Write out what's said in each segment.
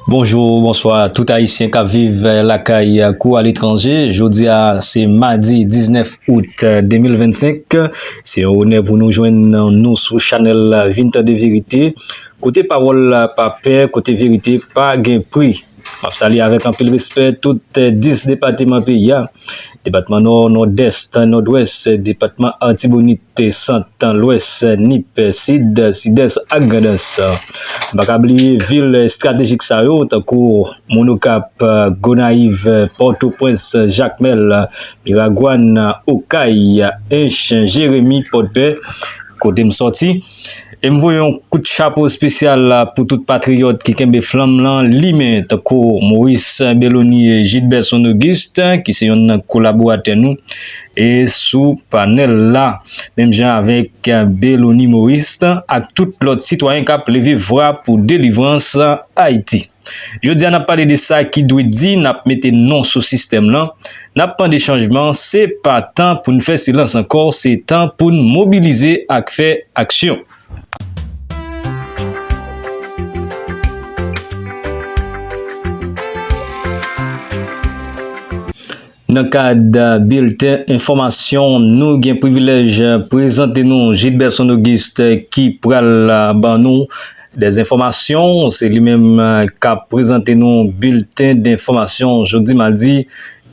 Bonjou, bonswa tout ayisyen kap viv lakay kou aletranje, jodi a se madi 19 out 2025, se yon onè pou nou jwenn nou sou chanèl vin tande verite, kote pawòl la pa pè, kote verite pa gen pri. Map salye avèk anpil respè tout 10 depateman peyi a. Depatman Nò, Nòdès, Nòdwès, Depatman Artibonit, Sant, Lwès, Nip, Sid, Sidès ak Grandans. Nou pa ka bliye vil estratejik sa yo tankou Monokap, Gonayiv, Pòtoprens, Jakmèl, Miragwàn, Okay, Ench, Jeremi, Pòdpè kote m sòti. E m voye yon kout chapo spesyal pou tout patriyòt ki kenbe flanm lan limen tankou Maurice Bellony e Gilberson Auguste ki se yonn nan kolaboratè nou e sou panèl la menm jan avèk Bellony Maurice ak tout lòt sitwayen k ap leve vwa pou delivrans Ayiti. Jodi a nap pale de sa ki dwe di nap mete non sou sistèm lan, nap mande chanjman se pa tan poun fè silans ankò se tan poun mobilize ak fè aksyon. Nan kad bilten enfòmasyon nou gen privilèj prezante nou Jidberson Auguste ki pral ban nou dè enfòmasyon se li menm kap prezante nou bilten denfòmasyon jodi madi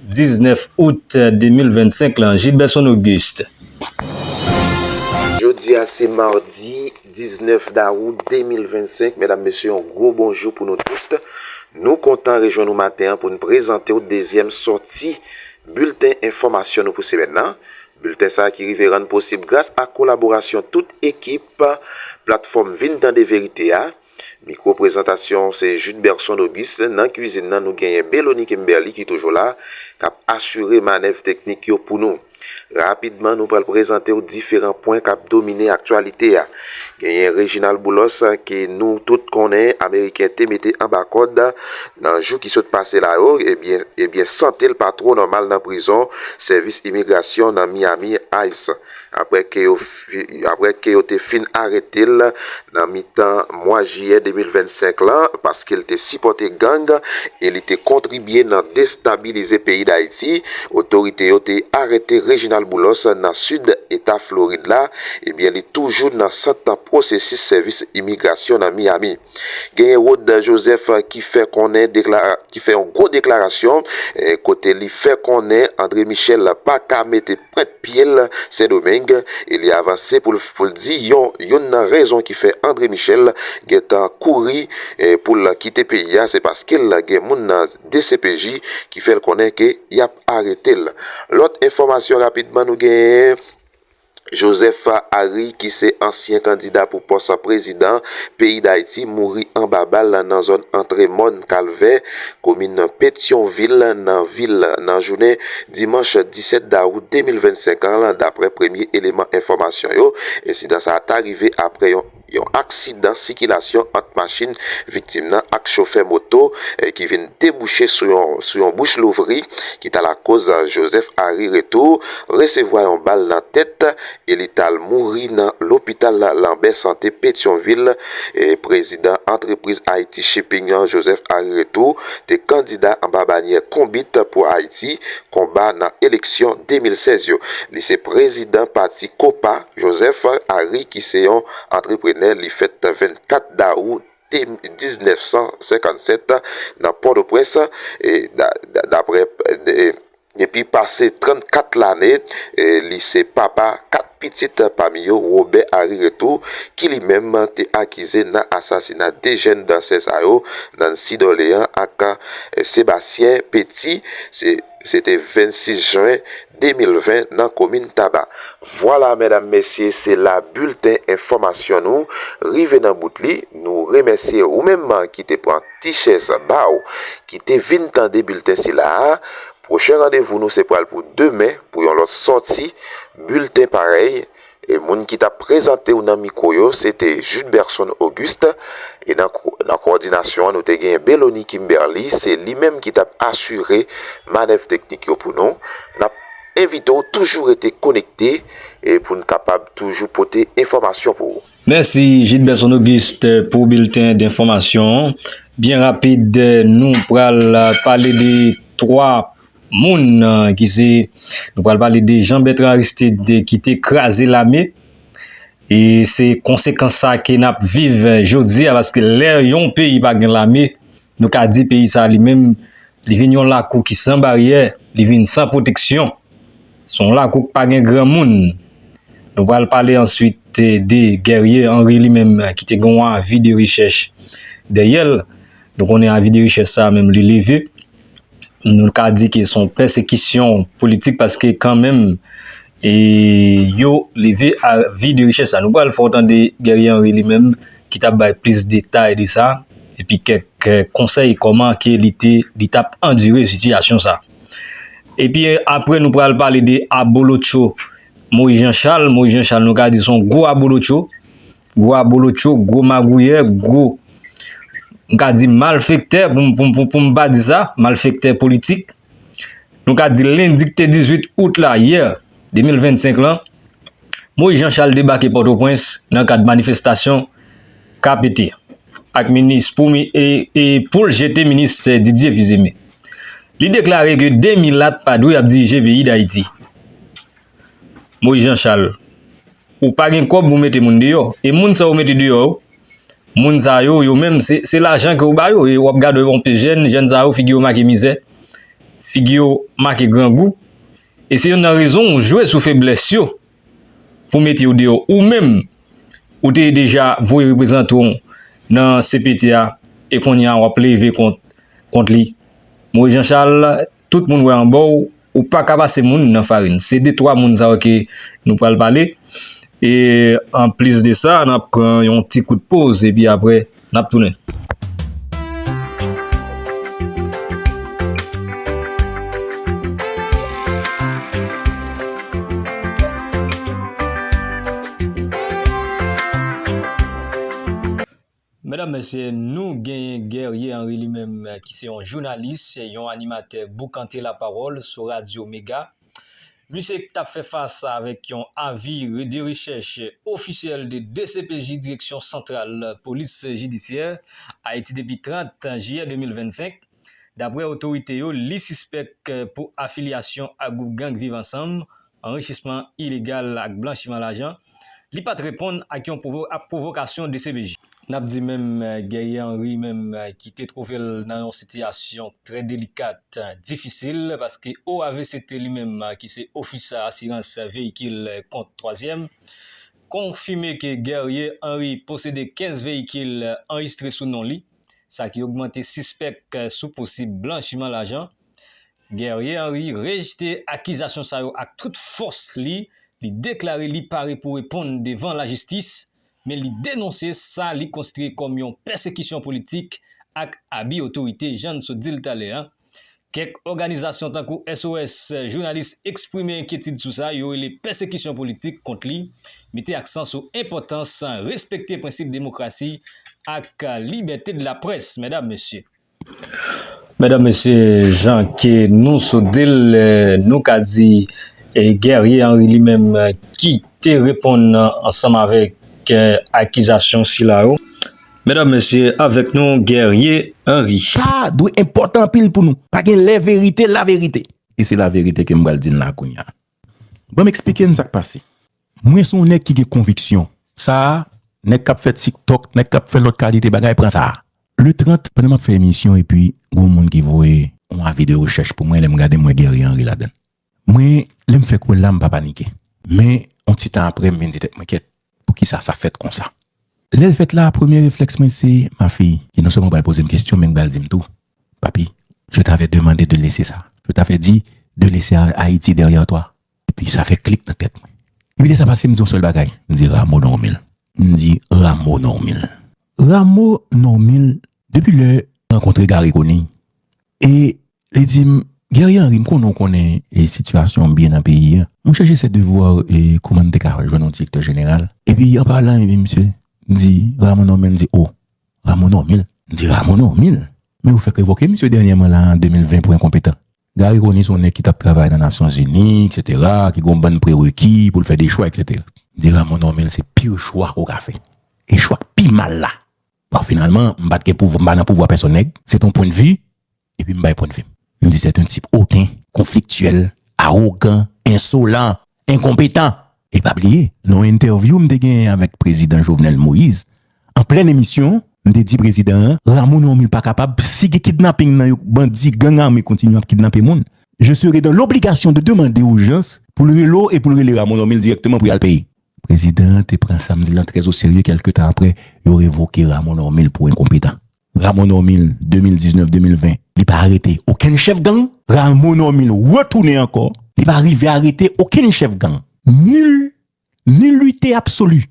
19 out 2025 lan Jidberson Auguste. Jodi a se mardi 19 dawou 2025 medam mesye yon gwo bonjou pou nou tout nou kontan rejwenn ou maten an pou n prezante w dezyèm sòti bilten enfòmasyon nou pou semèn nan bilten sa ki rive rann posib gras ak kolaborasyon tout ekip platfòm vin tande verite a mikwo prezantasyon se Judberson Auguste nan kwizin nan nou genyen Bélony Kimberly ki toujou la kap asire manèv teknik yo pou nou. Rapidman nou pral prezante w diferan pwen kap domine aktyalite a. Genyen Reginald Boulos ke nou tout konnen ameriken te mete anba kòd nan jou ki sot pase la yo ebyen ebyen sante l pa two nòmal nan prizon sèvis imigrasyon nan Miami, ice, aprè ke yo apre ke yo te fin arete l nan mitan mwa jiyè 2025 lan paske l te sipòte gang e li te kontribye nan destabilize peyi Dayiti. Otorite yo te arete Reginald Boulos nan sid eta Florid la, ebyen li toujou nan sant pwosesis sèvis imigrasyon nan Miami. Genyen Rod Joseph ki fè konnen ki fè yon gwo deklarasyon kote li fè konnen André Michel pa ka mete Prèt pye l, Sendomeng, e li avanse pou l pou l di yon youn nan rezon ki fè André Michel gen tan kouri pou l kite peyi a se paske l gen moun nan dcpj ki fè l konnen ke y ap arete l. Lòt enfòmasyon rapidman nou genyen, Joseph Ary ki se ansyen kandida pou pòs prezidan peyi Dayiti mouri anba bal nan zòn antre Mòn Kalvè, komin Petyonvil nan vil la nan jounen dimanch 17 dawout 2025 an daprè premye eleman enfòmasyon yo ensidan sa ta rive aprè yon yon aksidan sikilasyon ant machin viktim nan ak chofè moto ki vin debouche sou yon sou yon bouch louvri ki ta lakoz Joseph Harry Retour resevwa yon bal nan tèt e li t al mouri nan lopital Lambert Santé Petyonvil, prezidan antrepriz Ayiti Shipping an, Joseph Ary Retour, te kandida anba banyè Konbit pou Ayiti, Konba, nan eleksyon 2016 yo. Li se prezidan pati Kopa. Joseph Ary ki se yon antreprenè, li fèt 24 dawou 1957 nan Pòtoprens, daprè. Depi pase 34 lane, li se papa 4 pitit pami yo Robè Ari Retou ki li menm te akize nan asasina 2 jèn dansè sa yo, Nancy Dorlean ak Sébastien Petit, se te 26 jwen 2020 nan komin Taba. Vwala medam mesye se la bilten enfòmasyon nou rive nan bout li, nou remèsye ou menm ki te pran. Ti chèz ba w ki te vin tande bilten sila a, pwochen randevou nou se pral pou demen pou yon lòt sòti bilten parèy e moun ki t ap prezante w nan mikwo yo se te Judberson Auguste e nan kowòdinasyon an nou te gen Bélony Kimberly se li menm ki t ap asire manèv teknik yo pou nou. N ap envite w toujou rete konekte pou n kapab toujou pote enfòmasyon pou ou. Mèsi Gilberson Auguste pou bilten denfòmasyon an. Byen rapid nou pral pale de 3 moun ki se nou pral pale de Jean Bertrand Aristide ki te kraze lame e se konsekans sa ke nap viv jodi a paske lè yon peyi pa gen lame Nou ka di peyi sa li menm, li vin yon lakou ki san baryè, li vin san pwoteksyon. Se yon lakou k pa gen granmoun. Nou pral pale answit de Guerrier Henri li menm ki te gen yon avi de rechèch dèyè l. Nou konnen avi de rechèch sa menm li leve. Nou ka di ke se yon pèsekisyon politik paske kan menm E yo leve a vi de richès sa. Nou pral fè w tande Guerrier Henry li menm ki tap bay plis detay de sa epi kèk konsèy kòman ke li te li tap andire sitiyasyon sa. Epi apre nou pral pale de abolotcho Moïse Jean Charles, Moïse Jean Charles nou ka di son gwo abolotcho, gwo abolotcho, gwo magouyè, gwo m ka di malfektè poum poum poum pa di sa, malfektè politik. Nou ka di lendi ki te 18 out la, yè, 2025 lan, Moïse Jean Charles debake Pòtoprens nan kad manifestasyon KPT ak minis pou e pou l jete minis Didier Fils-Aimé. Li deklare ke 2 milat pa dwe ap dirije peyi Dayiti. Moise Jean Charles ou pa gen kob ou mete moun deyo e moun sa ou mete deyo yo moun sa yo yo menm se lajan ke ou ba yo e wap gade yon pe jen jen sa yo figi yo make mize figi yo make grangou e se yon nan rezon ou jwe sou febles yo pou mete yo deyo ou menm ou te deja voye reprezanton nan CPT a e konya wap leve kont kont li Moise Jean Charles. tout moun wè anba w, ou pa ka pase moun nan farin. Se de twa moun sa yo ke nou pral pale. E an plis de sa, n ap pran yon ti kout poz e pi apre n ap tounen. Medam mesye nou genyen Guerrier Henry li menm ki se yon jounalis, yon animatè boukante la pawòl sou radyo mega. Misye k tap fè fas avèk yon avi de rechèch ofisyèl de dcpj direksyon santral polis jidisyè Ayiti depi 30 jiyè 2025. Daprè otorite yo li sispèk pou afilyasyon ak gwoup gang Viv Ansanm anrichisman ilegal ak blanchiman lajan, li pat reponn ak yon pwovokasyon dcpj. N ap di menm Guerrier Henry menm ki te twouve l nan yon sitiyasyon trè delikat, difisil, paske OAV se te li menm ki se Ofis Asirans Veyikil Kont Twazyèm, konfime ke Guerrier Henry posede 15 veyikil anrejistre sou non li, sa ki ogmante sispèk sou posib blanchiman lajan. Guerrier Henry rejte akizasyon sa yo ak tout fòs li, li deklare li pare pou reponn devan lajistis, men li denonse sa li konsidre kòm yon pèsekisyon politik ak abi otorite jan n sot di l talè a. Kèk òganizasyon tankou SOS Jounalis eksprime enkyetid sou sa yo rele pèsekisyon politik kont li, mete aksan sou enpòtans respekte prensip demokrasi ak libète de la près, medam, mesye. Medam mesye jan ke nou sot dil nou ka di Guerrier Henri li menm ki te reponn ansanm avèk akizasyon sila yo. Medam mesye avèk nou Guerrier Henri. Sa a dwe enpòtan anpil pou nou. Pa gen lè verite laverite. E se laverite ke m pral di n la kounya. Banm eksplike n sak pase. Mwen son nèg ki gen konviksyon. Sa nèg kap fè tik tok nèg kap fè lòt kalite bagay pran sa. Le 30 pandan map fè emisyon epi gon moun ki voye on avi de rechèch pou mwen lèm gade m wè Guerrier Henry ladann. Mwen lèm fèk wèl la m pa panike men on ti tan aprè m vin di tèt mwen kèt Poukisa sa fèt konsa? Lè l fèt la, premye reflèks mwen se ma fille ki non sèlman pral poze m kesyon men k pral di m tou, Papi, je t'avais demande de laisser ça, je t'avais dit de laisser Haïti derrière toi. Epi sa fè klik nan tèt mwen. Epi lè sa pase m di yon sèl bagay, m di Rameau Normil. M di Rameau Normil. Rameau Normil, depi lè m rankontre Garry Conille, E li di m, Guerrier Henry, m konnen w konnen sitiyasyon an byen nan peyi a. Mwen chèche se devwa w kouman m te ka jwenn yon direktè jeneral. Epi an palan epi misye di Rameau Normil, m di o, Rameau Normil? M di Rameau Normil? Men yo fèk revoke misye dènyèman la an 2020 pou enkonpetan. Garry Conille se yon nèg ki t ap travay nan Nasyonzini eksetera, ki gen yon bann prereki pou l fè de chwa eksetera. M di Rameau Normil se pire chwa ke w ka fè e chwa k pi mal la Bon, finalman, m pat gen pouvwa, m pa nan pouvwa pèsonn nèg, se ton pwen de vi, epi m bay pwen de vi m. M di sèt un tip oten, konfliktyèl, arogan, ensolan, enkonpetan. E pa bliye, nan yon entèvyou m te genyen avèk prezidan Jovenel Moïse, an plen emisyon, m te di prezidan an, Rameau nan yon mil pa kapab, si gen kidnaping nan yo, bandi, gang ame kontinye ap kidnape moun, je serai dans l'obligation de demander aux gens pou l rele w e pou l rele Rameau nan yon mil dirèkteman pou y al peye. Prezidan an te pran sa m di lan trè oserye kèlke tan aprè yo revoke Rameau Normil pou enkonpetan. Rameau Normil, 2019, 2020, li pa arete okenn chèf gang. Rameau Normil retounen ankò, li pa rive arete okenn chèf gang. Nul, nullite absolue!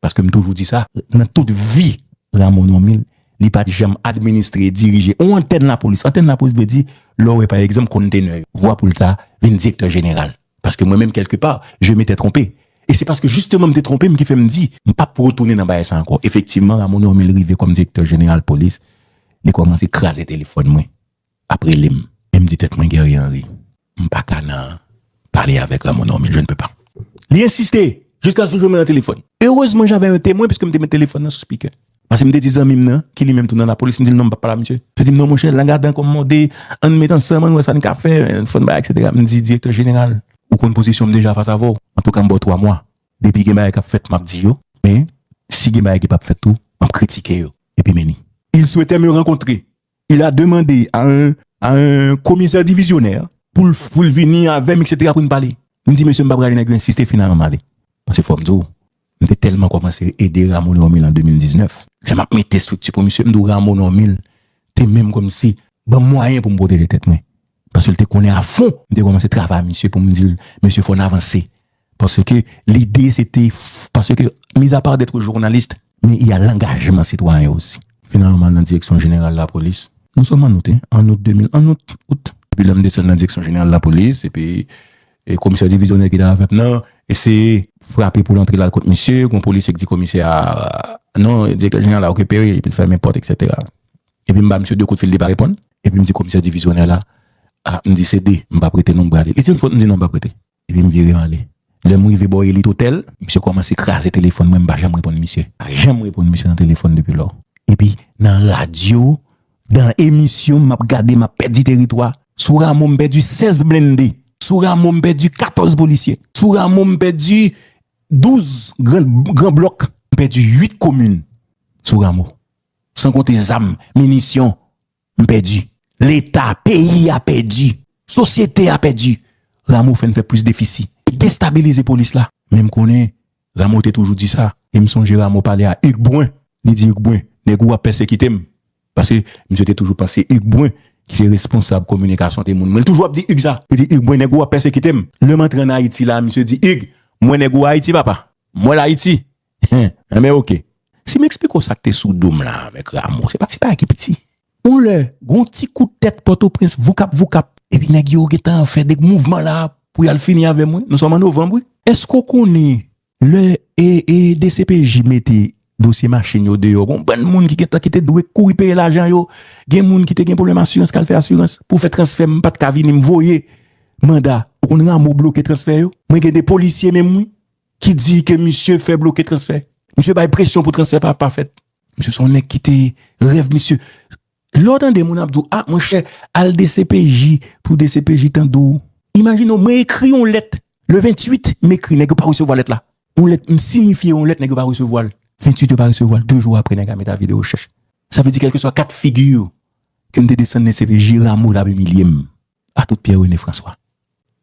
Paske m toujou di sa, nan tout vi Rameau Normil, li pa t janm administre, dirije on antèn lapolis. Antèn lapolis vle di lè w wè pa egzanp konntenè yo. Vwa pou l ta vin direktè jeneral. Paske mwen menm kèlke pa, je m'ete twonpe. E se paske jisteman m'te twonpe m ki fè m di, m pap retounen nan bagay sa ankò. Efektivman, Ramon Normil rive kòm direktè jeneral polis, li kòmanse kraze telefòn mwen, ap rele m. E m di tèt mwen, Guerrier Henri, m pa ka nan pale avèk Ramon Normil, je ne peux pas. Li ensiste, jiskasou jwenn mwen nan telefòn. Erezman, j'avais un témoin, piske m te met telefòn nan sou speaker. Paske m te di zanmi m nan, ki li menm tou nan lapolis, m di l non m pa p pale ak misye. Li di m non monchè, lang a dan kò m mòde, an n met ansanm, an n wè sa n ka fè, fò n bay eksetera. M di direktè jeneral, ou konn pozisyon m deja fas avè w. Antouka m ba w twa mwa. Depi gen bagay k ap fèt, m ap di yo. Men, si gen bagay ki p ap fèt tou, m ap kritike yo. Epi men li. Il souhaitait me rencontrer, Il a demande a un a un komisè divizyonè pou l pou l vini avè m eksetera pou n pale. M di mesye m pa pral ale nèg yo ensiste finalman m ale. Pase fò m di w, m te tèlman kòmanse ede Rameau Normil an 2019, lè m ap mete estrikti pou misye, m di w Rameau Normil te menm kòmsi ban m mwayen pou m pwoteje tèt mwen. Paske l te konnen a fon. M te kòmanse travay ak misye pou m di l, Mesye fò n avanse. Paske lide se te, paske mizapa dètre journaliste. Men y a langajman sitwayen osi. Finalman m al nan direksyon jeneral lapolis. Nou sòm an out, hein? An out 2000, an out, out. Epi lè m desann nan direksyon jeneral lapolis epi komisè divizyonè ki te avè m nan eseye. Frape pou l antre l al kot misye, gon polisye k di komisè a, Non direktè jeneral la okipe wi epi l fèmen pòt eksetera. Epi m ba misye de kout fil li pa reponn. Epi m di komisè divizyonè la, A, m di se de, m pa prete non m brale. Li di m fot m di non m pa prete. Epi m vire m ale. Lè m rive bò elit otèl. Misye kòmanse kraze telefòn mwen m pa janm reponn misye. M pa janm reponn misye nan telefòn depi lò. Epi nan radyo, dan emisyon m ap gade m ap pèdi teritwa. Sou Ramo m pèdi 16 blende. Sou Ramo m pèdi 14 polisye. Sou Ramo m pèdi 12 gran blòk. M pèdi 8 komin sou Ramo. San konte zam, minisyon. M pèdi. Leta, peyi a pèdi. Sosyete a pèdi. Ramo fè n fè plis defisi. Li destabilize polis la. Men m konnen Ramo te toujou di sa. E m sonje Ramo pale a Hugues Brun. Li di Hugues Brun, nèg ou ap pèsekite m. Paske misye te toujou panse Hugues Brun, ki se responsab kominikasyon, te moun mwen. Li toujou ap di Hugues sa. Li di Hugues Brun, nèg ou ap pèsekite m. Lè m antre ann Ayiti la, misye di Hugues, m wè nèg ou Ayiti papa. M wè l Ayiti. Huh enben ok. Si m eksplike w sa k te sou do m la avèk Ramo, se pa ti bagay ki piti. On lè, gen yon ti kout tèt Pòtoprens, voukap voukap. Epi nèg yo gen tan fè de mouvman la a pou y al fini avè m wi. Nou sòm an novanm wi. Èske w konnen lè dcpj mete dosye machin yo deyò, gen yon bann moun ki gen tan ki te dwe kouri peye lajan yo, gen moun ki te gen pwoblèm asirans k al fè asirans pou fè transfè m pa t ka vini m voye manda. Ou konn Ramo bloke transfè yo? Mwen gen de polisye menm wi, ki di ke misye fè bloke transfè. Misye bay presyon pou transfè pa pa fèt. Misye se yon nèg ki te rèv misye. Lè w tande moun ap di w, a monchè, al dcpj pou dcpj tande w. Imajine w, mwen ekri yon lèt le 28, m ekri, nèg yo pa resevwa lèt la. Yon lèt, m sinifye yon lèt, nèg yo pa resevwa l. 28 yo pa resevwa l, 2 jou apre nèg la mete avi de rechèch. Sa vle di kèlkeswa kat figi ke m te desann dcpj, Rameau t ap imilye m. a tout Pierre René François.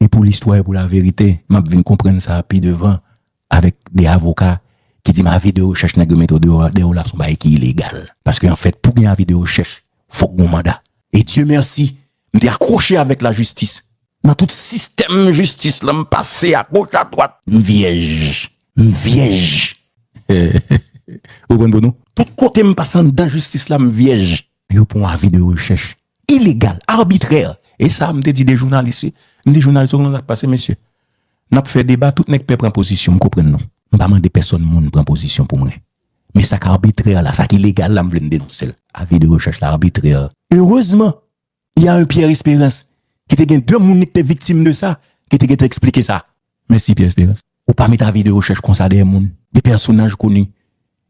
E pou listwa e pou laverite, m ap vin konprann sa pi devan avèk de avoka ki di m avi de rechèch nèg yo mete yo deyò la s on bagay ki ilegal. Paske anfèt pou gen avi de rechèch fòk gen yon manda. E Dye mèsi, m te akwoche avèk lajistis. Nan tout sistèm jistis lan m pase agoch adwat, m vyèj, m vyèj. Ou konprann, Dono? Tout kote m pase anndan jistis la m vyèj. Yo pran yon avi de rechèch ilegal, arbitrè. E sa m te di de jounalis wi. M di jounalis yo konnen sa k pase mesye. N ap fè deba tout nèg pè pran pozisyon, m konprann nou. M pa mande pèsòn moun pran pozisyon pou mwen. Men sa k arbitrè la, sa k ilegal la m vle n denonse l. Avi de rechèch la arbitrè. Erezman, y a un Pierre Esperance ki te gen de moun li k te viktim de sa ki te gen tan eksplike sa. Mèsi Pierre Esperance. Ou pa met avi de rechèch konsa dèyè moun, de pèsonaj koni.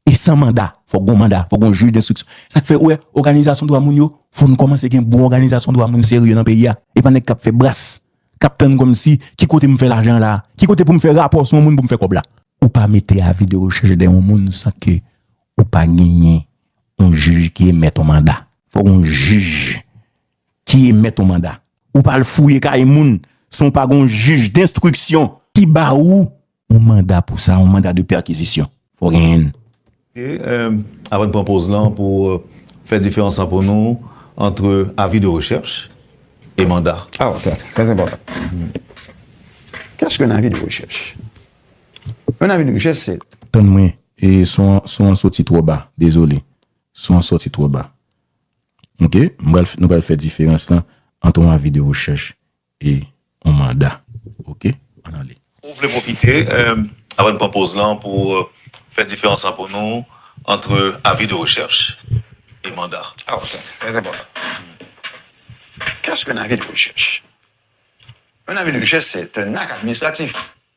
E san manda, fòk gon manda, fòk gon jij denstriksyon. Sak fè ou wè òganizasyon dwa moun yo, fò nou kòmanse gen bon òganizasyon dwa moun serye nan peyi a. E pa nèg kap fè bras, kap tann kòmsi ki kote m fè lajan la a? Ki kote pou m fè rapò sou yon moun pou m fè kòb la? Ou pa mete avi de rechèch dèyè yon moun san ke ou pa genyen yon jij ki emèt yon manda. Fòk gon jij Ki emèt on manda. Ou pa al fouye kay moun san w pa gen on jij denstriksyon. Ki ba ou on manda pou sa, on manda de pèkizisyon. Fò w gen on. E, avan n pran poz lan pou fè diferans lan pou nou antre avi de rechèch e manda. A, ok, ok. Trè enpòtan. Kès k'on avi de rechèch? On avi de rechèch se. Tann mwen, son an soti twò ba. Dezole. Son an soti twò ba. Ok m pral nou pral fè diferans lan ant on avi de rechèch e on manda ok ann ale. Ou vle pwofite apre n pran poz lan pou w fè diferans lan pou nou antre avi de rechèch e manda. Aw sa se trè enpòtan. Kès ke yon avi de rechèch? Yon avi de rechèch se te n ak administratif.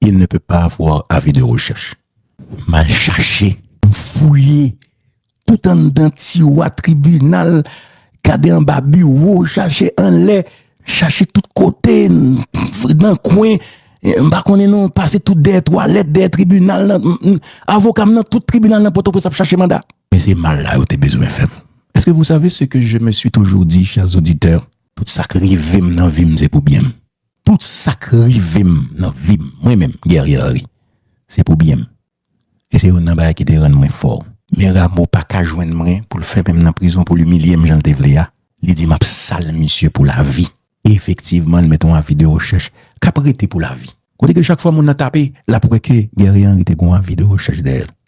Il ne peut pas avoir avis de recherche. M al chache, m fouye tout anndan tiwa tribinal, gade anba biwo, chache anlè, chache tout kote, nan kwen, m pa konnen non, m pase tout dèyè twalèt, dèyè tribinal nan, avoka m nan tout tribinal nan Pòtoprens ap chache manda. Men se mal la yo te bezwen fè m. Eske vou save seke je me swi toujou di, chèrs oditè? Tout sa k rive m nan vi m se pou byen m. Tout sak rive m nan vi m mwen menm Guerrier Henri se pou byen m e se youn nan bagay ki te rann mwen fò. Men Ramo paka jwenn mwen pou l fèmen m nan prizon pou l imilye m jan l te vle a, li di m ap sal misye pou lavi. E efektivman l met yon avi de rechèch k ap rete pou lavi. Kote ke chak fwa moun nan tape l ap wè ke Guerrier Henri te gen yon avi de rechèch dèyè l.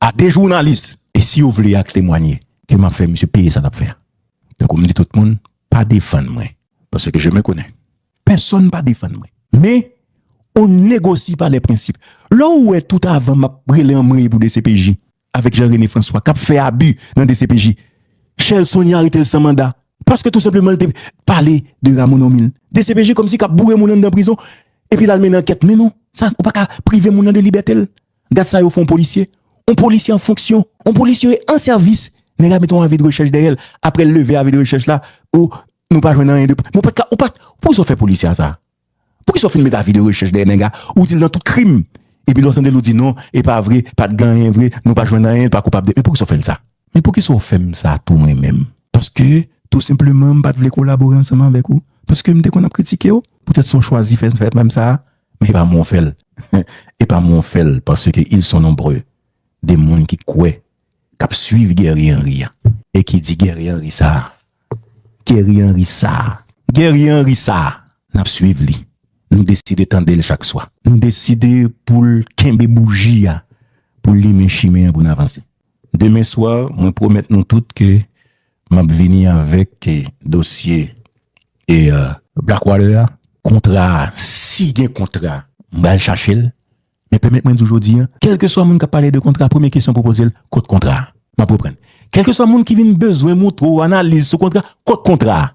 a 2 jounalis. E si yo vle ak temwanye ke map fè misye peye sa lap fè a. Tankou m di tout moun, pa defann mwen, paske je me konnen. Pèsonn pa defann mwen. Men, on ne negocie pas les principes. Lè ou wè tout avan map rele anmweyy pou dcpj, avèk Jean Rene François kap fè abi nan dcpj, Shell Sony aretel san manda, paske tou senpleman li te pale de Rameau Normil. Dcpj kòmsi kap boure moun anndan prizon, epi lal mennen ankèt. Men non, sa ou paka prive moun nan de libètel. Gad sa yo fè yon polisye, yon polisye an fonksyon, yon polisye an sèvis, nèg la mete yon avi de rechèch dèyè l, aprè l leve avi de rechèch la, o, nou pa jwenn anyen de prèv, men w pa t ka, ou pa t, poukisa w fè polisye a sa? Poukisa w fin met avi de rechèch dèyè nèg la, ou di l nan tout krim, epi lè w tande l ou di non, e pa vre, pa t gen anyen vre, nou pa jwenn anyen, l pa koupab de, men poukisa w fè l sa? Men poukisa w fè m sa tou mwen menm? Paske, tou senpleman, m pa t vle kolabore ansanm avèk ou, paske m te konn ap kritike w, poutèt sa w chwazi fè m sa, Men epa mwen w fè l Epa mwen w fè l Paske ils sont nombreux de moun ki kwè Kap swiv Guerrier Henry a. E ki di Guerrier Henry sa a Guerrier Henry sa a Guerrier Henry sa a Nap swiv li Nou deside tande l chak swa Nou deside pou l kenbe bouji a Pou l limen chimen an pou n avanse Demen swa mwen pwomèt nou tout ke Map vini avek dosye e. Blackwater a kontra a si gen kontra. M pral chache l men pèmèt mwen di w jodi a kèlkeswa moun kap pale de kontra premye kesyon pou poze l kot kontra a map reprann kèlkeswa moun ki vin bezwen moutre w analiz sou kontra kot kontra a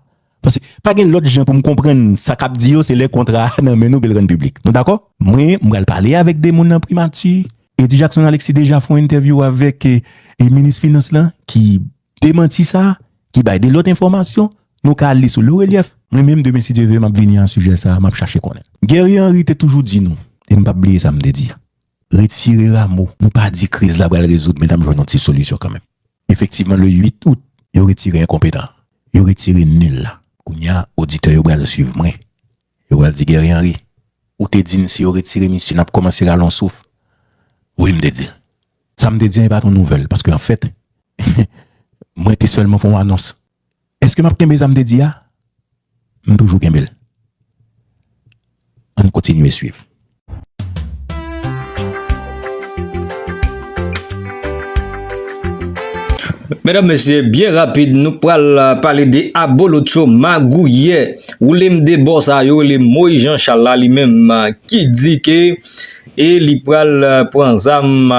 paske pa gen lòt jan pou m konprann sa kap di yo se lè kontra a nan men nou epi l rann piblik nou dakò. Mwen m pral pale avèk 2 moun nan primati Eddy Jackson Alexis deja fon entèvyou avèk minis finans lan ki Demanti sa a, ki bay 2 lòt enfòmasyon, nou ka al li sou Le Relief. Mwen menm demen si Dye ve map vini a sijè sa a, map chache konnen. Guerrier Henry te toujou di nou, e m pap bliye sa m te di a, Retire Rameau, nou pa di kriz la pral rezoud men nap jwenn yon ti solisyon kanmenm. Efektivman le 8 out, yo retire enkonpetan an. Yo retire nul la. Kounya oditè yo pral swiv mwen. Yo pral di Guerrier Henry, Ou te di n si yo retire misye n ap kòmanse rale yon souf. Wi, m te di l. Sa m te di an e pa t yon nouvèl, paske anfèt, mwen te sèlman fè yon anons. Èske m ap kenbe sa m te di a? M toujou kenbe l. Ann kontinye suiv. Medam mesye, byen rapid nou pral euh, pale de abolotcho magouyè ou lem de bò sa yo le moy jan chala li menm euh, ki di ke e li pral euh, pran zam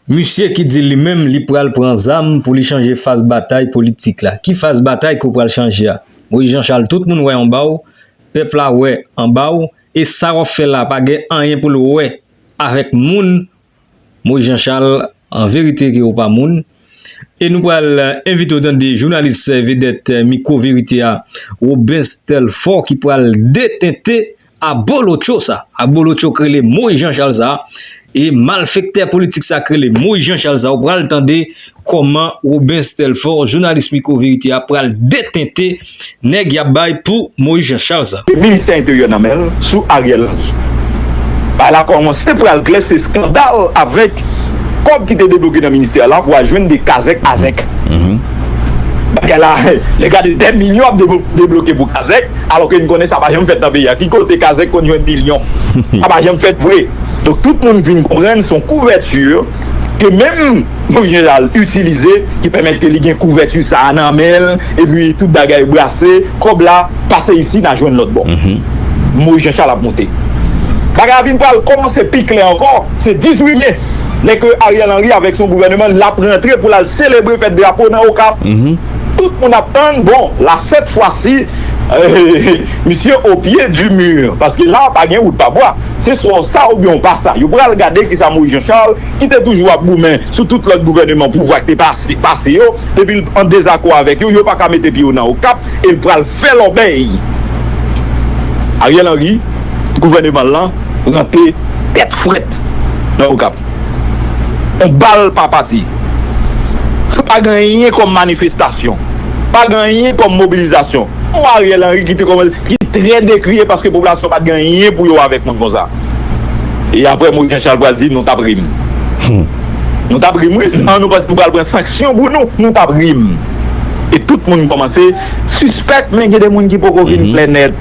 misye ki di li menm li pral pran zam pou li chanje faz batay politik la ki faz batay kou pral chanje a moy jan chal tout moun wè yon baw Pèp la wè anbaw e sa wap fè la pa gen anyen poul wè avèk moun Moise Jean Charles an verite ke ou pa moun e nou pral envite w tande jounalis vedèt mikwo verite a Robens Telfort ki pral detente abolotcho sa abolotcho k rele Moise Jean Charles sa. E malfektè politik sa k rele Moise Jean Charles sa ou pral tande kòman Robens Telfort jounalis Micro Vérité a pral detente nèg y ap bay pou Moise Jean Charles sa. E ministè enteryè nan men l sou Ariel Henry. Bagay la kòmanse pral klè se skandal avèk kòb ki te debloke nan ministè la pou al jwenn de kazèk azèk. Bagay la lè gade 2 milyon ap debloke pou kazèk. Alò ke n konnen sa pa janm fèt nan peyi a. Ki kote kazèk konn jwenn milyon? Sa pa janm fèt vre. Donk tout moun vin konprann se yon kouvèti ke menm Moyiz Jeneral itilize ki pèmèt ke li gen kouvèti sa a nan men l epi tout bagay brase, kòb la pase isi nan jwenn lòt bò. Moyiz Janchal ap monte. Bagay la vin pral kòmanse pi klè ankò, se 18 me, lè ke Ariel Henry avèk son gouvèneman l ap rantre pou l al selebre fèt drapo nan Okap. tout moun ap tann bon la sèt fwa si misye o pye di mur paske la pa gen wout pa bwa se swa w sa oubyen w pa sa yo pral gade kisa Moïse Jean Charles ki te toujou ap goumen sou tout lòt gouvèneman pouvwa ki te pase yo depi l an dezakò avèk yo yo pa ka mete pye yo nan okap e l pral fè lòbèy Ariel Henry gouvèneman l lan rantre tèt frèt nan okap. On bal pa pati. Pa gen anyen kòm manifestasyon. Pa gen anyen kòm mobilizasyon. On Ariel Henry ki te kòmanse, ki trè dekriye paske popilasyon pat gen anyen pou yo avèk moun konsa. E aprè Moïse Jean Charles pral di nou tap rim. Nou tap rim wi, san nou panse nou pral pran sanksyon pou nou, nou tap rim. E tout moun kòmanse sispèk men gen de moun ki poko vin klè nèt.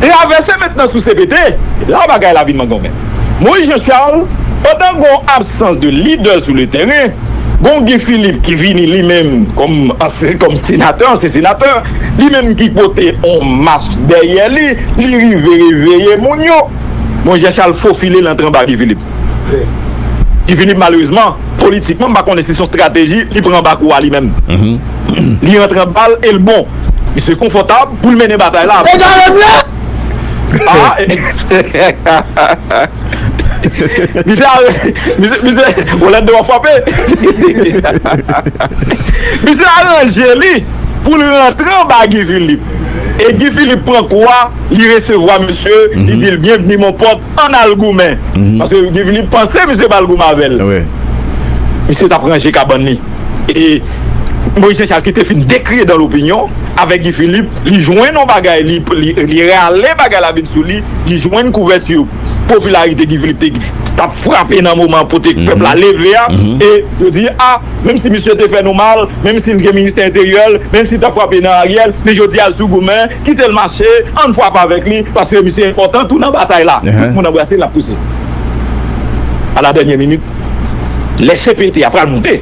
Travèse mentnan sou CPT, la bagay la vin mangonmen. Moïse Jean Charles, pandan gon absans de lidè sou le tèren, gon Guy Philippe ki vini li menm kòm ansyen kòm senatè, ansyen senatè, li menm ki pote on mas dèyè li, li rive reveye moun yo. Moïse Jean Charles fofile l antre anba Guy Philippe. Guy Philippe malerezman, politikman m pa konnen si son strateji li pran anba kou a li menm. Li antre anba l e l bon. Misye konfòtab pou l mennen batay la. Misye aranje li pou l rantre anba Guy Philippe e Guy Philippe pran kou a, li resevwa misye, li di l byenvni mon pòt, ann al goumen. Paske Guy Philippe panse misye pral goumen avè l. Misye t ap ranje kabann li. E Moïse Jean Charles ki te fin dekriye dan lopinyon avèk Guy Philippe, li jwenn yon bagay, li rale bagay la vin sou li, li jwenn kouvèti popilarite Guy Philippe te tap frape nan moman kote pèp la leve a, e yo di a, menm si misye te fè nou mal, menm si l gen ministè enteryè l, menm si l tap frape nan Ariel, men jodi a l sou goumen, kite l mache, ann frape avèk li, paske misye enpòtan tou nan batay la, tout moun anbrase l ap pouse. A la dènyè minit. lè CPT a pral moute,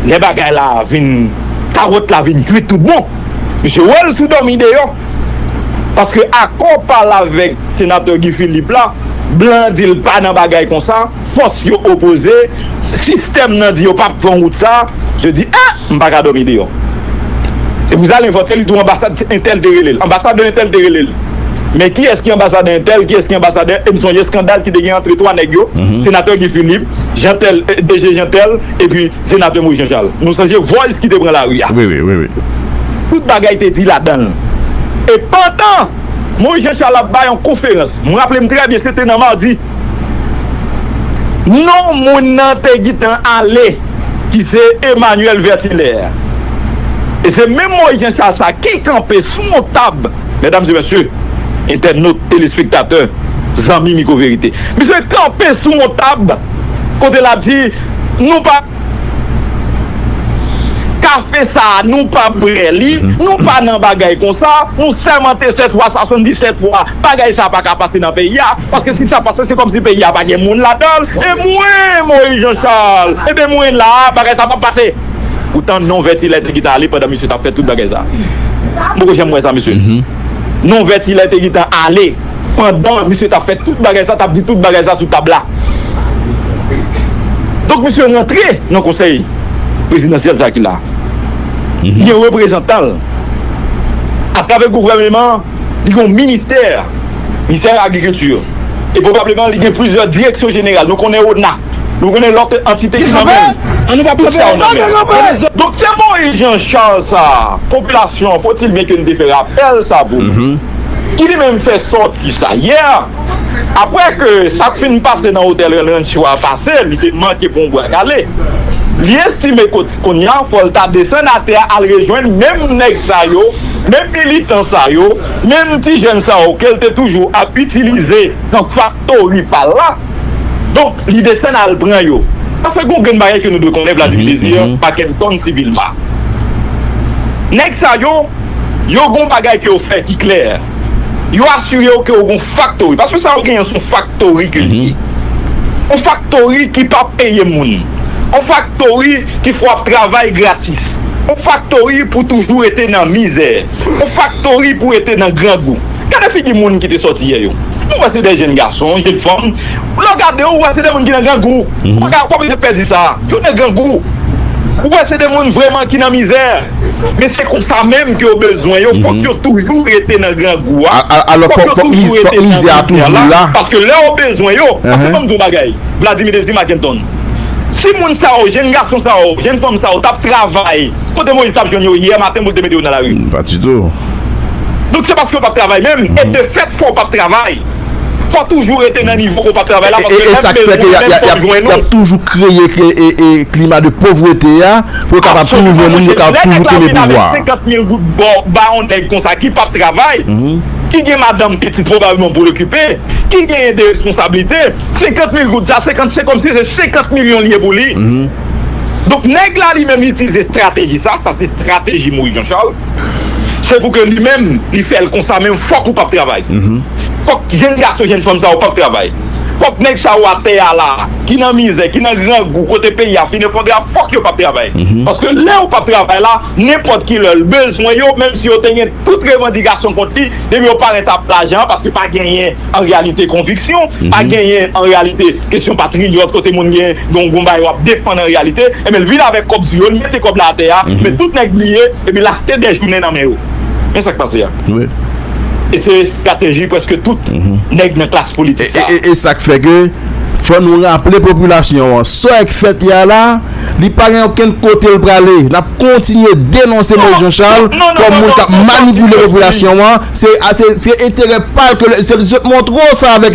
lè bagay la vin, kawòt la vin kwit tout bon, misye wè l sou dòmi deyò. Paske akò pa l avèk senatè Guy Philippe la, blan an di l pa nan bagay konsa, fòs yo opoze, sistèm nan di yo pa p pran wout sa, misye di eh! M pa ka dòmi deyò. Se pou sa l envante li tou anbasad entèl te rele l, anbasadè entèl te rele l. Men kiyès ki anbasadè entèl, kiyès ki anbasadè e m sonje eskandal ki te gen antre 3 nèg yo, senatè Guy Philippe, Jean tel, DG Jean tel epi senatè Moïse Jean Charles. Nou sonje voice ki te pran lari a. Wi wi, wi wi. Tout bagay te di ladan l. E pandan Moïse Jean Charles ap bay yon konferans, m raple m trè byen se te nan madi, non moun nan te gitan ale ki se Emmanuel Vertilaire. E se menm Moïse Jean Charles sa ki kanpe sou yon tab, Medam e mesye, entènot, telespektatè, zanmi Miko Verite. Misye kanpe sou yon tab kote l ap di nou pa ka fè sa, nou pa prè li, nou pa nan bagay konsa, nou sèmante 7 fwa, 77 fwa, bagay sa pa ka pase nan peyi a, paske si sa pase se kòm si peyi a pa gen moun ladan l, e mwen, Moyiz Janchal, e ben mwen la, bagay sa p ap pase. Ou tande non vèti lè te gitan ale pandan misye tap fè tout bagay sa. M poko janm wè sa mesye. Non vèti lè te gitan ale pandan misye tap fè tout bagay sa, tap di tout bagay sa sou tab la. Donk misye rantre nan konsèy prezidansyèl sa ki la. Gen reprezantan l atravè gouvèneman an. Li gen yon ministè, Ministè agrikilti, e pwobableman li gen plizyè direksyon jeneral. Nou konnen ona, nou konnen lòt antite ki nan men li. An nou pa pran sa yo nan men. Donk se Moïse Jean Charles sa a, popilasyon an, faut-il bien que nou te fè rapèl sa pou nou, ki li menm fè sòti sa yè, aprè ke sa k fin pase nan otèl Rancho a pase, li te manke pran yon bwa kale, li estime kot. Konnya fòl ta desann atè a al rejwenn menm nèg sa yo, menm militan sa yo, menm ti jèn sa yo kel te toujou ap itilize nan faktori pal la. Donk li desann al pran yo. Paske gon grenn bagay ke nou dwe konnen Vladimir Désir, Mackenton Civilma. Nèg sa yo, yo gon bagay ke yo fè ki klè. yo asire w ke w gon faktori, paske sa w genyen an son faktori ke li ye. On faktori ki pa peye moun, on faktori ki fè w ap travay gratis, on faktori pou toujou rete nan mizè, on faktori pou rete nan grangou. Gade figi moun ki te sòti yè yo. Mwen wè se de jenn gason, jenn fanm. Lè w gade yo, ou wè se de moun ki nan grangou. Ou pa ka, ou pa bezwen pè di sa. Yo nan grangou. Ou wè se de moun vreman ki nan mizè. Men se konsa menm ke yo bezwen yo, fòk yo toujou rete nan grangou a, fòk yo toujou rete nan mizè la, paske lè yo bezwen yo, paske banm di yon bagay, Vladimir Désir Mackenton, si moun sa yo, jenn gason sa yo, jenn fanm sa yo tap travay, kote Moïse tap jwenn yo yè maten pou l te mete yo nan lari? Pas du tout. Donk se paske yo pap travay menm, e de fèt fò w pap travay, fò w toujou rete nan nivo ke w pap travay la, paske lè m bezwen nou menm fò m jwenn nou. E sa k fè ke yap toujou kreye klima de povrete a. Pou yo kapab toujou jwenn moun, yo kapab toujou kenbe pouvwa. Absoliman monsye, lè nèg la vin avèk 50 mil goud ba w, ba yon nèg konsa ki pap travay, ki gen madanm, pitit pwobableman pou l okipe, ki genyen de responsablite, 50 mil goud sa, se kòmsi se 50 milyon li ye pou li. Donk nèg la li menm li itilize estrateji sa, sa se estrateji Moyiz Janchal, se pou ke li menm li fè l konsa menm fòk ou pap travay, fòk jenn gason, jenn fanm sa yo pap travay. Fòk nèg sa yo atè a la, ki nan mizè, ki nan grangou, kote peyi a fin efondre a, fòk yo pap travay. Paske lè yo pap travay la, nenpòt ki lè l bezwen yo, menm si yo te gen tout revandikasyon kont li, depi yo parèt ap lajan an, paske pa genyen an reyalite konviksyon, pa genyen an reyalite kesyon patriyòt kote moun gen yon bagay wap defann an reyalite, enben l vin avèk kòb sou yo, l mete kòb la atè a, men tout nèg bliye, epi l achte dè jounen nan men yo. Men sa k pase a. E se estrateji preske tout nèg nan klas politik sa. E sak fè ke fò nou raple popilasyon an sòy k fèt yè a la, li pa gen okenn kote l prale. N ap kontinye denonse Moïse Jean Charles kòm moun k ap manipile popilasyon an. Se enterè pa l ke l, se l montre w sa avèk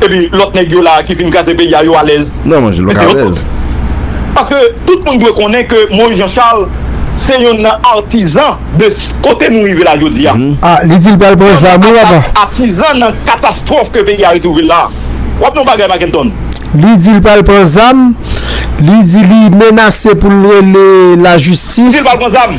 epi lòt nèg yo la ki vin kraze peyi a yo alèz. Nan manje lòk alèz. Paske tout moun dwe konnen ke Moïse Jean Charles se youn nan artisan de kote nou rive la jodi a. Ah li dil pral pran zam wi papa. Atizan nan katastwòf ke peyi a retwouve l la. W ap nan yon bagay Mackenton. Li di li pral pran zam, li di li menase pou l rele lajistis. Li di li pral pran zam.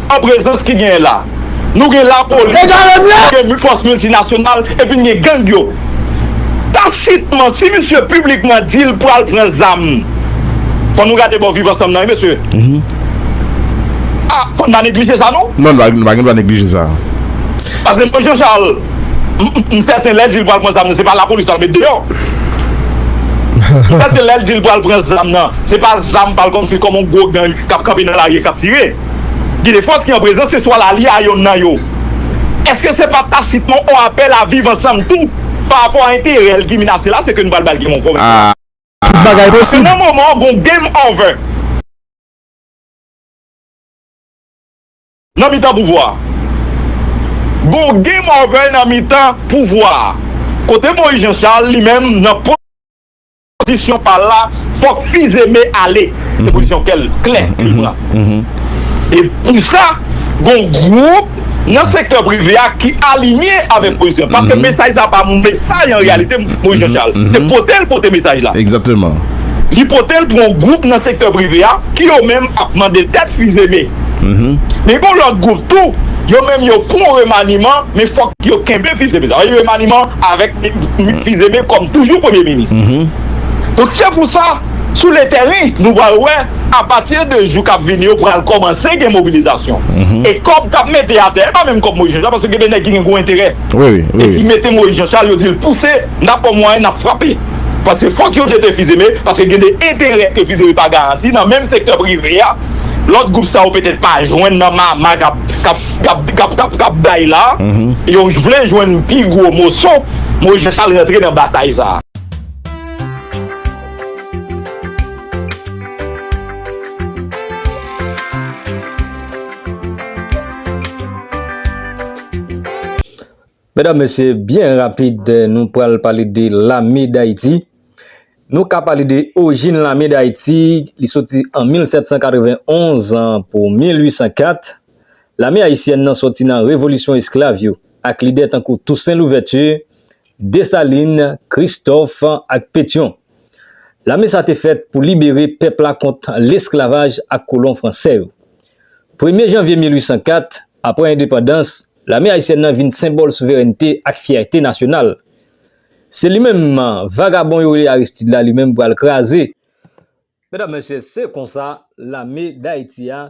An prezans ki genyen la, nou gen lapolis, nou gen fòs miltinasyonal epi n gen gang yo. Tacitman, si misye piblikman di l pral pran zam, fò nou gade bò Viv Ansanm nan wi mesye. A, fò n pa neglije sa non. Non, nou pa gen dwa neglije sa. Paske mwen Jean Charles, m sèten lè l di l pral pran zam nan, se pa lapolis l ap met deyò. M sèten lè l di l pral pran zam nan, se pa zam pa l konfye kòm yon gwo gang k ap kanpe nan lari e k ap tire. Gen de fòs ki an prezans se swa la li a yonn nan yo. Eske se pa tasitman on apèl a viv ansanm tou? Pa rapò a enterè l ki menase la se ke nou pral ba l game over menm. Tout bagay posib. Nan moman an gon game over. Nan mitan pouvwa a. Gon game over nan mitan pouvwa a. Kote Moise Jean Charles li menm nan. Pozisyon pa l la, fòk Fils-Aimé ale. Se pozisyon kè l, klè, li pran. E pou sa, gon gwoup nan sektè prive a ki alinye avèk pozisyon. Paske mesaj sa pa yon mesaj an reyalite Moïse Jean Charles. Se pote l pote mesaj la. Egzakteman. Li pote l pou yon gwoup nan sektè prive a ki yo menm ap mande tèt Fils-Aimé. Men gon lòt gwoup tou, yo menm yo pou yon remaniman, men fòk. Yo kenbe fils Aimé sa. Remaniman avèk fils Aimé kòm toujou premye minis. Donk se pou sa sou le tèren nou pral wè a pati de jou kap vini yo pral kòmanse gen mobilizasyon. E kòb kap mete atè e pa menm kòb Moïse Jean Charles paske gen de nèg ki gen gwo enterè e ki mete Moïse Jean Charles yo dil pouse nap pran mwayen nap frape paske fòk yo jete fils Aimé paske gen de enterè ke fils Aimé pa garanti nan menm sektè prive a lòt gwoup sa yo petèt pa jwenn nan mama kap kap bay la, yo vle jwenn pi gwo moso, mo jan sa l rantre nan batay sa. Medam mesye byen rapid nou pral pale de lame dayiti Nou ka pale de ojin lame dayiti li soti an 1791 an pou 1804 Lame ayisyèn nan soti nan revolisyon esklav yo ak lidè tankou Tousen Louvèti Desalin Kristòf ak Petyon Lame sa te fèt pou libere pèp la kont lesklavaj ak kolon fransè yo. Premye janvye 1804, apre endepandans, lame ayisyèn nan vin senbòl souverènte ak fyète nasyonal. Se li menm vagabon yo rele Aristide la li menm pral kraze. Medam, mesye, se konsa lame Dayiti a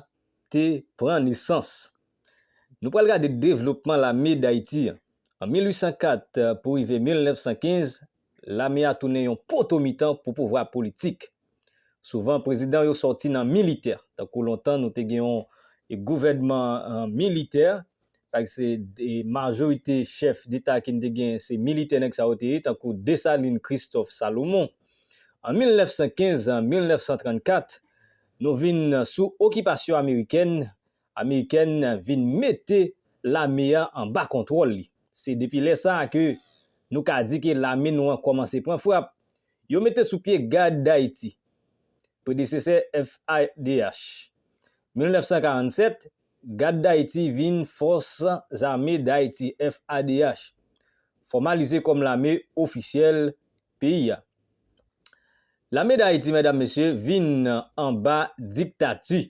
te pran nesans. Nou pral gade devlopman lame Dayiti an 1804 pou rive 1915 Lame a tounen yon poto mitan pou pouvwa politik. Souvan prezidan yo sòti nan militè. Tankou lontan nou te gen yon gouvènman militè. Paske se majorite chèf deta ke n te gen se militè nèg sa yo te ye tankou Desalin, Kristòf, Salomon. An 1915, 1934 nou vin sou okipasyon amerikèn Amerikèn vin mete lame a anba kontwòl li. Se depi lè sa a ke nou ka di ke lame nou an kòmanse pran frap. Yo mete sou pye Gad Dayiti, predesesè FADH. 1947, Gad Dayiti vin Fòs Zame Dayiti, FADH, fòmalize kòm lame ofisyèl peyi a. Lame Dayiti, medam mesye, vin anba diktati.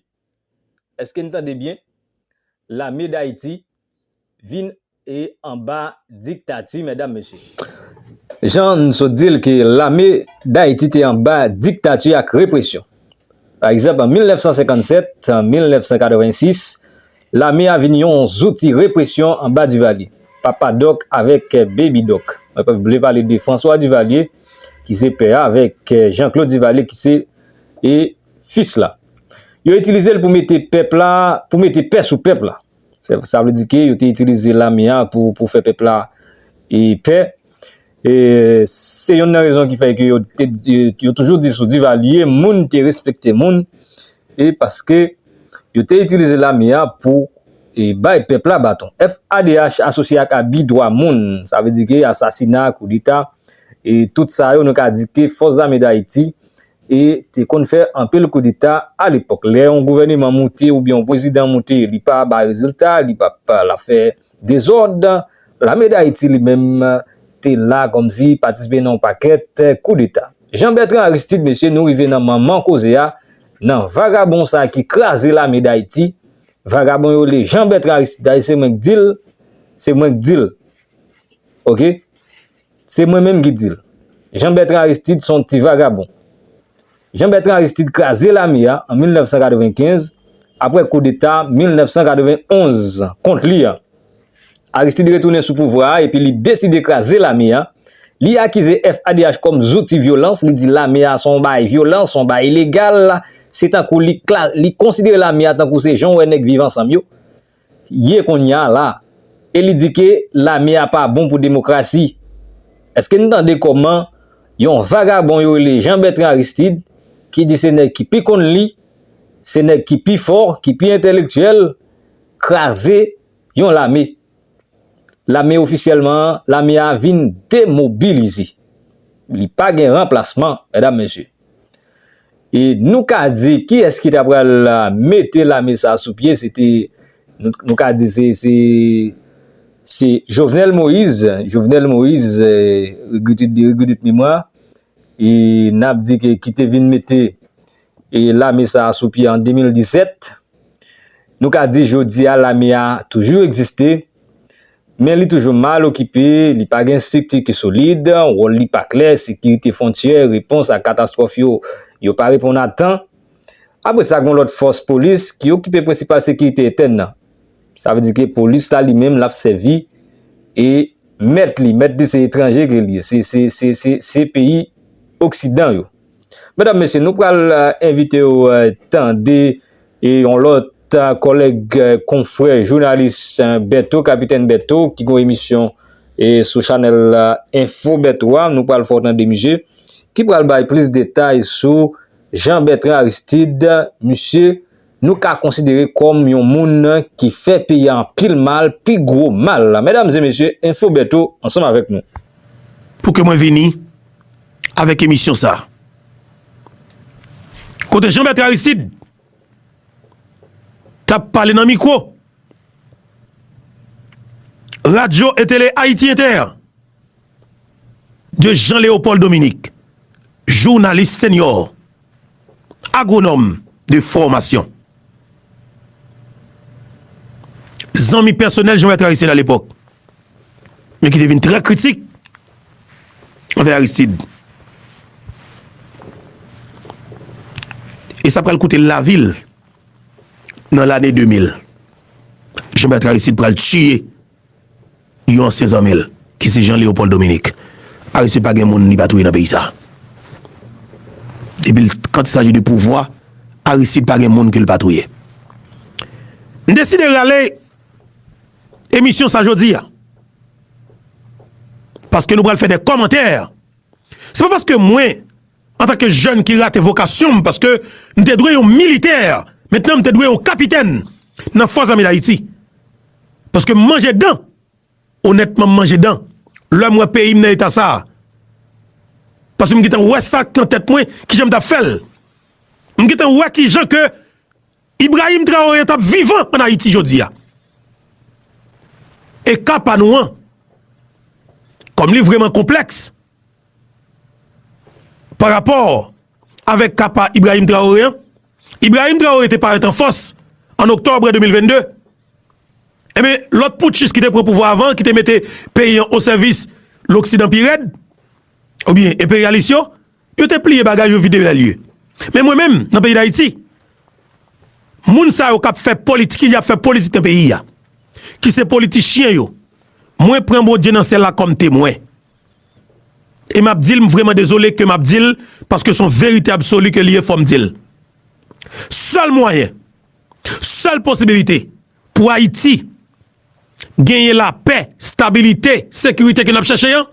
Eske n tande byen? Lame Dayiti vin e anba diktati medam mesye. Jan n sot di l ke lame Dayiti te anba diktati ak represyon. Pa egzanp an 1957, 1986, lame a vin yon zouti represyon anba Divalye. Papa Dòk avèk Bebi Dòk. Mwen pa vle pale de Franswa Divalye ki se pè a avèk Janklod Divalye ki se e Fis la. Yo itilize l pou mete pèp la, pou mete pè sou pèp la. Sa vle di ke yo te itilize lame a pou pou fè pèp la e pè. E se yonn nan rezon ki fè ke yo te di, yo toujou di sou Divalye moun te respekte moun e paske yo te itilize lame a pou e bay pèp la baton. FADH asosye ak abi dwa moun. Sa vle di ke asasina, koudeta e tout sa yo nou ka di ke Fòs Zame Dayiti e te konn fè anpil koudeta a lepòk lè yon gouvèneman moute oubyen yon pwezidan moute li pa bay rezilta li pa pa lap fè dezòd lame dayiti li menm te la kòmsi patisipe nan yon pakèt koudeta jan bètran aristid mesye nou rive nan manman koze a nan vagabon sa ki kraze lame dayiti vagabon yo le jan bètran aristid dayise mwen k dil se mwen k dil ok. Se mwen menm ki di l. Jean Bertrand Aristide son ti vagabon. Jean Bertrand Aristide kraze lame a an 1995 apre koudeta 1991 kont li a. Aristide retounen sou pouvwa a epi li deside kraze lame a. Li akize FADH kòm zouti vyolans, li di lame a son bagay vyolans, son bagay ilegal, se tankou li konsidere lame a tankou se jan w wè nèg Viv Ansanm yo. ye konnya la e li di ke lame a pa bon pou demokrasi. Eske n tande kòman yon vagabon yo rele Jean Bertrand Aristide ki di se nèg ki pi konn li, se nèg ki pi fò, ki pi entèlektyèl, kraze yon lame. Lame ofisyèlman an, lame a vin demobilize. Li pa gen ranplasman, mèdam mesye. E nou ka di ki es ki ta pral mete lame sa sou pye se te nou ka di se se se Jovenel Moise Jovenel Moise regretet de regretet memwa e nap di ke ki te vin mete e lame sa sou pye an 2017 nou ka di jodi a lame a toujou egziste Men li toujou mal okipe, li pa gen estrikti ki solid, wòl li pa klè, sekirite fwontyè, repons ak katastwòf yo, yo pa reponn a tan. Apre sa gen yon lòt fòs polis ki okipe prensipal sekirite entèn nan. Sa vle di ke polis la li menm l ap sèvi e mèt li, mèt li se etranje ke li ye, se peyi oksidan yo. Medam mesye nou pral envite w tande yon lòt kòlèg konfrè jounalis Bertho kapitèn Bertho ki gon emisyon sou chanèl enfo Bertho a nou pral fè w tande misye ki pral bay plis detay sou Jean Bertrand Aristide misye nou ka konsidere kòm yon moun ki fè peyi a anpil mal, pi gwo mal. Medam e mesye, Enfo Bertho ansanm avèk nou. Pou ke mwen vini avèk emisyon sa. Kote Jean Bertrand Aristide tap pale nan mikwo Radyo e Tele Ayiti Inter de Jean Leopold Dominique, jounalis senyò. Agronòm de fòmasyon. Zanmi pèsonèl Jean-Bertrand Aristide alepòk, men ki te vin trè kritik anvè Aristide. E sa pral koute l lavi l nan lane 2000. Jean-Bertrand Aristide pral tiye. Yon ansyen zanmi l, ki se Jean Léopold Dominique, Aristide pa gen moun li pa touye nan peyi sa. Depi l quand il s'agit de pouvwa, Aristide pa gen moun ke l pa touye. M deside rale emisyon sa jodi a, paske nou pral fè de kòmantè. Se pa paske mwen. Antanke jèn ki rate vokasyon m paske m te dwe yon militè, mentnan m te dwe yon kapitèn nan Fòs Zame Dayiti. Paske m manje dan, onètman m manje dan, lè m wè peyi m nan eta sa a. Paske m gentan wè sa k nan tèt mwen, kijan m t ap fè l. M gentan wè kijan ke Ibrahim Traoré an t ap vivan ann Ayiti jodi a. E ka pa nou an, kòm li vrèman konplèks, Pa rapò avèk ka pa Ibrahim Traoré an, Ibrahim Traoré te parèt an fòs an oktòbre 2022. Enben, lòt poutchis ki te pran pouvwa avan, ki te mete peyi an o sèvis loksidan pi rèd, oubyen enperyalis yo, yo te pliye bagay yo vide lè lye. Men mwen menm, nan peyi Dayiti, moun sa yo kap fè politik, ki di ap fè politik nan peyi a, ki se politichyen yo, mwen pran Bondye nan syèl la kòm temwen. E map dil m vreman dezole ke map dil paske son verite absoli ke li ye fom dil. Sel mwayen, sel posibilite pou Ayiti genyen la pè, stabilite, sekirite ke nap chache an,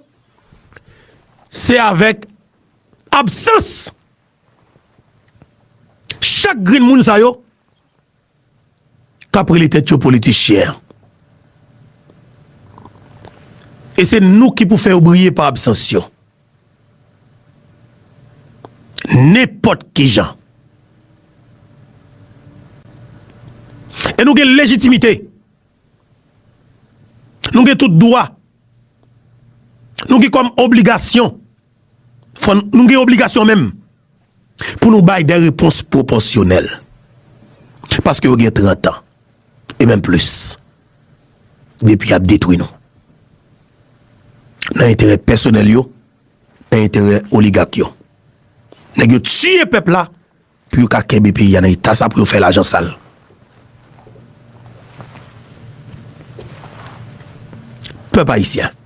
se avek absans chak grenn moun sa yo. kap rele tèt yo politichyen an. E se nou ki pou fè yo briye pa absans yo. Nenpòt ki jan. E nou gen lejitimite. Nou gen tout dwa. Nou gen kòm obligasyon. Nou gen obligasyon menm. Pou nou bay de repons pwopòsyonèl, paske yo gen trant an, e menm plis, depi y ap detwi nou, nan enterè pèsonèl yo, nan enterè oligak yo. Nèg yo tiye pèp la, pou yo ka kenbe peyi a nan eta sa, pou yo fè lajan sal. Pèp ayisyen.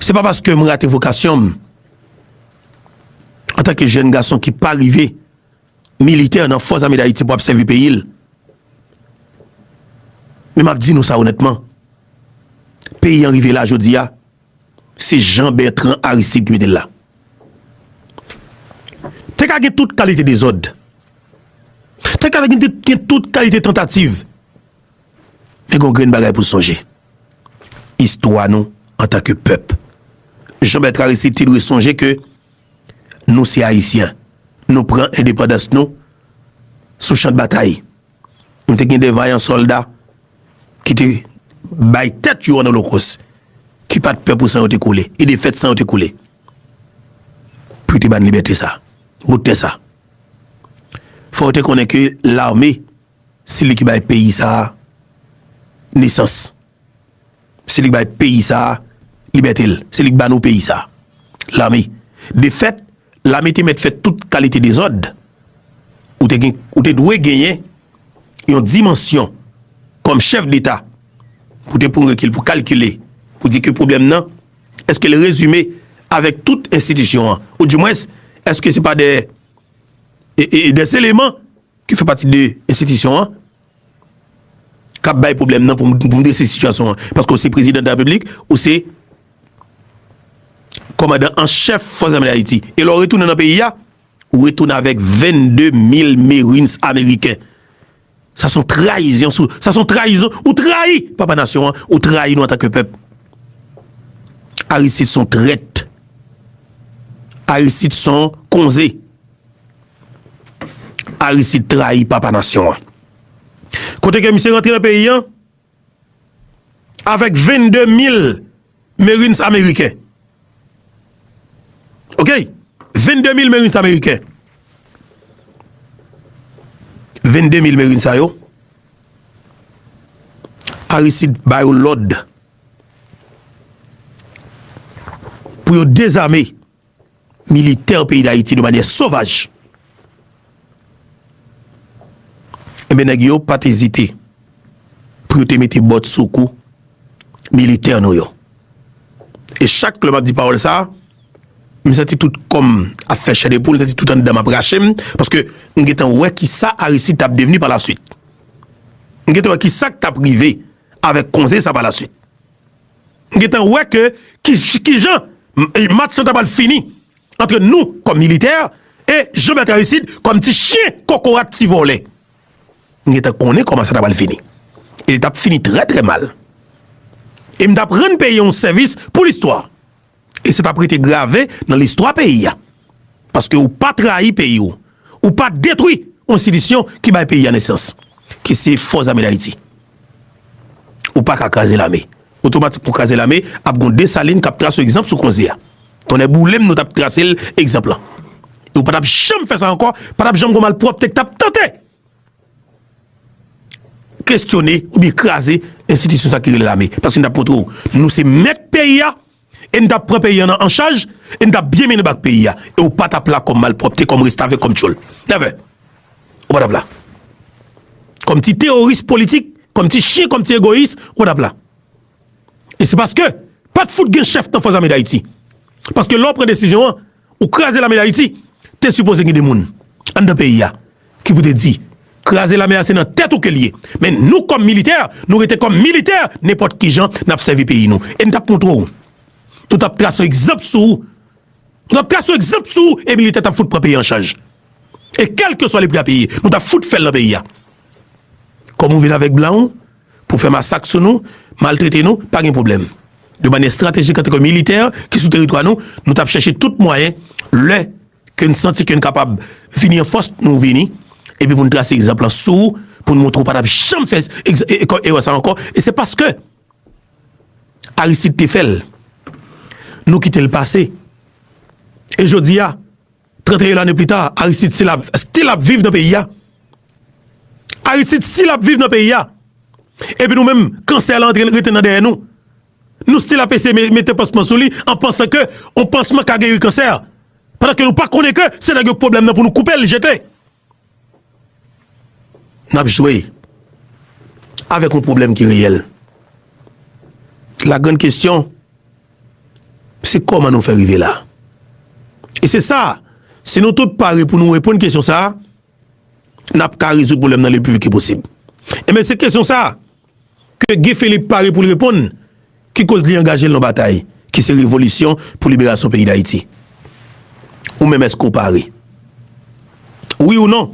Se pa paske m rate vokasyon m antanke jèn gason ki pa rive militè nan Fòs Ame Dayiti pou ap sèvi peyi l. Men m ap di nou sa onètman, peyi an rive la jodi a, se Jean Bertrand Aristide ki mete l la. Te ka gen tout kalite dezòd, te ka gen tout kalite tantativ, Men gen yon grenn bagay pou n sonje, istwa nou antan ke pèp. Jean Bertrand Aristide te dwe sonje ke nou se Ayisyen. Nou pran endepandans nou sou chan batay. Nou te gen de vayan sòlda ki te bay tèt yo an olokos, ki pa t pè pou san yo te koule, e de fèt san yo te koule pou yo te ba n libète sa a, bout tè sa a. Fò ou te konnen ke lame Se li ki bay peyi sa a nesans. Se li ki bay peyi sa a libète l. Se li ki ban nou peyi sa a, lame. De fèt, lame te mèt fè tout kalite dezòd. Ou te gen, ou te dwe genyen yon dimansyon kòm chèf deta pou te pran rekil, pou kalkile, pou di ke pwoblèm nan, èske l rezime avèk tout enstitisyon an? Ou di mwens, èske se pa de, e, e, e, dè eleman ki fè pati de enstitisyon an k ap bay pwoblèm nan pou m drese sitiyasyon an paske w se Prezidan de la Repiblik, ou se Kòmandan an Chèf Fòs Zame Dayiti e lè w retounen nan peyi a ou retounen avèk 22 mil Marines Ameriken. Sa son trayizyon sou, sa son trayizon, ou trayi Papa Nasyon an, ou trayi nou antanke pèp. Aristide son trèt. Aristide son konze. Aristide trayi papa nasyon an. Kote ke misye rantre nan peyi an, avèk 22 mil Marines Ameriken. Ok, 22 mil Marines Ameriken. 22 mil Marines a yo, Aristide ba yo lòd pou yo dezame Militè peyi dayiti de manyè sovaj. Enben nèg yo pat ezite pou yo te mete bòt sou kou militè nou yo. E chak lè map di pawòl sa, m santi tout kòm ap fè chè de poul, m santi tout anndanm ap rache m, paske m gentan wè kisa Aristide tap devni pa la swit. M gentan wè kisa k tap rive avèk konze sa pa la swit. M gentan wè ke kijan match lan ta pral fini antre nou kòm militè e Jean Bertrand Aristide kòm ti chyen kokorat ti vòlè. M gentan konnen kòman sa ta pral fini. E li t ap fini trè trè mal. E m t ap rann peyi a yon sèvis pou listwa. E se t ap rete grave nan listwa peyi a. Paske ou pa trayi peyi ou. Ou pa detwi yon enstitisyon ki bay peyi a nesans. Ki se Fòs Zame Dayiti. Ou pa ka kraze lame. Otomatik pou kraze lame, ap gon Desalin k ap trase w egzanp sou konze a. Tonnè boule m nou t ap trase l egzanp lan. E ou pa t ap janm fè sa ankò, pa t ap janm gon malpwòpte k t ap tante. kestyone oubyen kraze enstitisyon sa ki rele lame. Paske n t ap montre w nou se mèt peyi a e n t ap pran peyi an an chaj e n t ap byen mennen bak peyi a e w pa t ap la kòm malpwòpte, kòm restavèk, kòm tchòl. Nèvè! Ou pa t ap la. Kòm ti teworis politik, kòm ti chyen, kòm ti egoyis, ou pa t ap la. E se paske pa t fout gen chèf nan Fòzame Dayiti. Paske lè w pran desizyon an, Ou kraze lame dayiti te sipoze gen de moun anndan peyi a ki pou te di kraze lame a se nan tèt ou ke liye men nou kòm militè nou rete kòm militè nenpòt kijan nap sèvi peyi nou e nou tap montre w nou tap tras yon egzanp sou ou nou tap tras yon egzanp sou ou e militè tap fout pran peyi an chaj e kèlkeswa le pri a peye nou tap fout fèl nan peyi a kòm ou vin avèk blan w pou fè masak sou nou, maltrete nou, pa gen pwoblèm. De manyè estratejik antake militè ki sou teritwa nou, nou t ap chèche tout mwayen, lè ke n santi ke n kapab vini an fòs, nou vini, epi pou n trase egzanp lan sou ou, pou n montre ou pa t ap janm fè erè sa ankò, e se paske Aristide te fè l, nou kite l pase. E jodi a. 31 lane pli ta, Aristide si lap, still ap viv nan peyi a. Aristide si lap viv nan peyi a. Epi nou menm, kansè la antre rete nan dèyè nou. Nou still ap ese mete pansman sou li, an pansan ke yon pansman ka geri kansè. Padan ke nou pa konnen ke se nèg yo k pwoblèm nan pou nou koupe l jete. N ap jwe avèk yon pwoblèm ki reyèl. La grann kestyon, se kòman nou fè rive la? E se sa, si nou tout pare pou nou reponn kestyon sa, n ap ka rezoud pwoblèm nan le pi vit ke posib. Enben se kestyon sa. ke Guy Philippe pare pou l reponn, ki koz li angaje l nan batay ki se revolisyon pou liberasyon peyi Dayiti. Ou menm eske w pare? Wi ou non?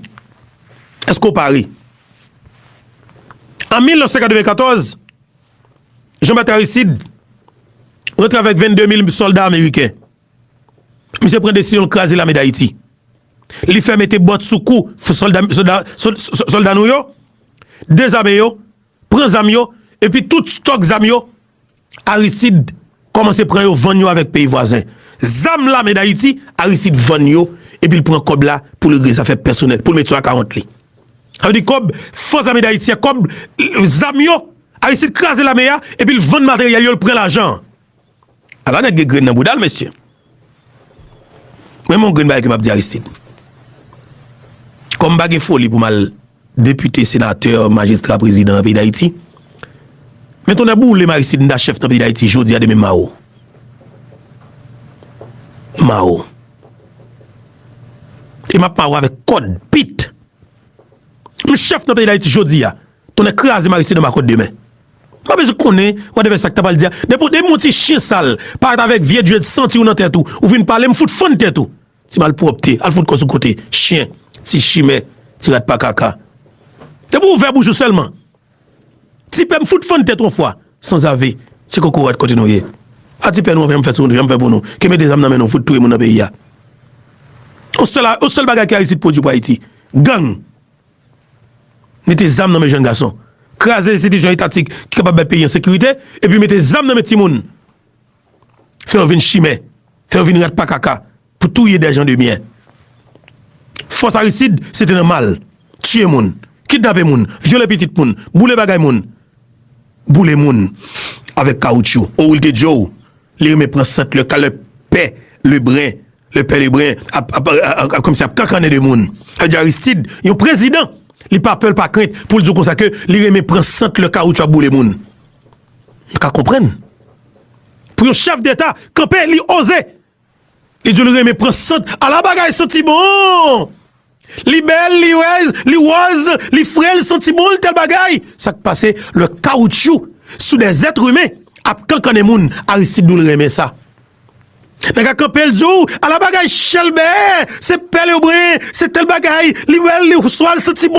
Eske w pare? An 1994, Jean Bertrand Aristide rantre avèk 22 mil sòlda ameriken. Misye pran desizyon l kraze lame Dayiti. Li fè mete bòt sou kou sòlda nou yo, dezame yo, pran zam yo, epi tout stòk zam yo, Aristid kòmanse pran yo vann yo avèk peyi vwazen. Zam lame dayiti, Aristid vann yo, epi l pran kòb la pou l regle zafè pèsonèl, pou l met sou akawont li. Sa vle di kòb fòs zame dayiti a, kòb zam yo, Aristid kraze lame a, epi l vann materyèl yo, l pran lajan an. A la nèg gen grenn nan bouda l mesye. Men m yon grenn bagay ke m ap di Aristide. Kòm m pa gen foli pou m al depite, senatè, majistra, prezidan nan peyi Dayiti, men tonnè boule m Aristide m ta chèf nan peyi Dayiti jodi a demen m mawon. M mawon. E m ap mawon avèk kòd, pit. M chèf nan peyi Dayiti jodi a. Tonnè kraze Maryse nan makòt demen. Pa bezwen konnen wadèvè sa ki ta pral di a. Depi w yon ti chyen sal, parèt avèk vye dread santi w nan tèt ou, ou vin pale m fout fann tèt ou. Ti malpwòpte, al fout kò sou kote. Chyen, ti chimè, ti rat pa kaka. Depi w ouvè bouch ou sèlman, ti pè m fout fann tèt ou yon fwa. Sanzave, se kokorat kote nou ye. A ti pè nou anfen m fè sou nou, jan m fè pou nou. Ke mete zam nan men nou fout touye moun nan peyi a. Yon sèl bagay ke Aristide pwodui pou Ayiti, gang. Mete zam nan men jenn gason. Kraze enstitisyon etatik ki kapab bay peyi an sekirite, epi mete zam nan men timoun. Fè yo vin chimè. Fè yo vin rat pa kaka pou touye dè jan de byen. Fòs Aristid se te nan mal, tiye moun, kidnape moun, vyole pitit moun, boule bagay moun. Boule moun avèk kawoutchou. Ou, li te di yo, Li renmen pran sant lè ka lè pè Lebren, lè pè Lebren ap kòmsi ap kankannen de moun. Sa vle di Aristid, yon prezidan, li pa pè l pa krent pou l di w konsa ke li renmen pran sant lè kawoutchou ap boule moun. M ka konprann. Pou yon chèf deta kanpe li oze li di w li renmen pran sant ala bagay santi bon! Li bèl, li rèz, li wòz, li fre, li santi bon, li tèl bagay! Sa k pase lè kawoutchou sou de zèt imen ap kankannen moun Aristide nou l renmen sa. Nèg a kanpe l di w ala bagay chèlbè, se pèl yo bren, se tèl bagay, li bèl, li wòz, li santi bon.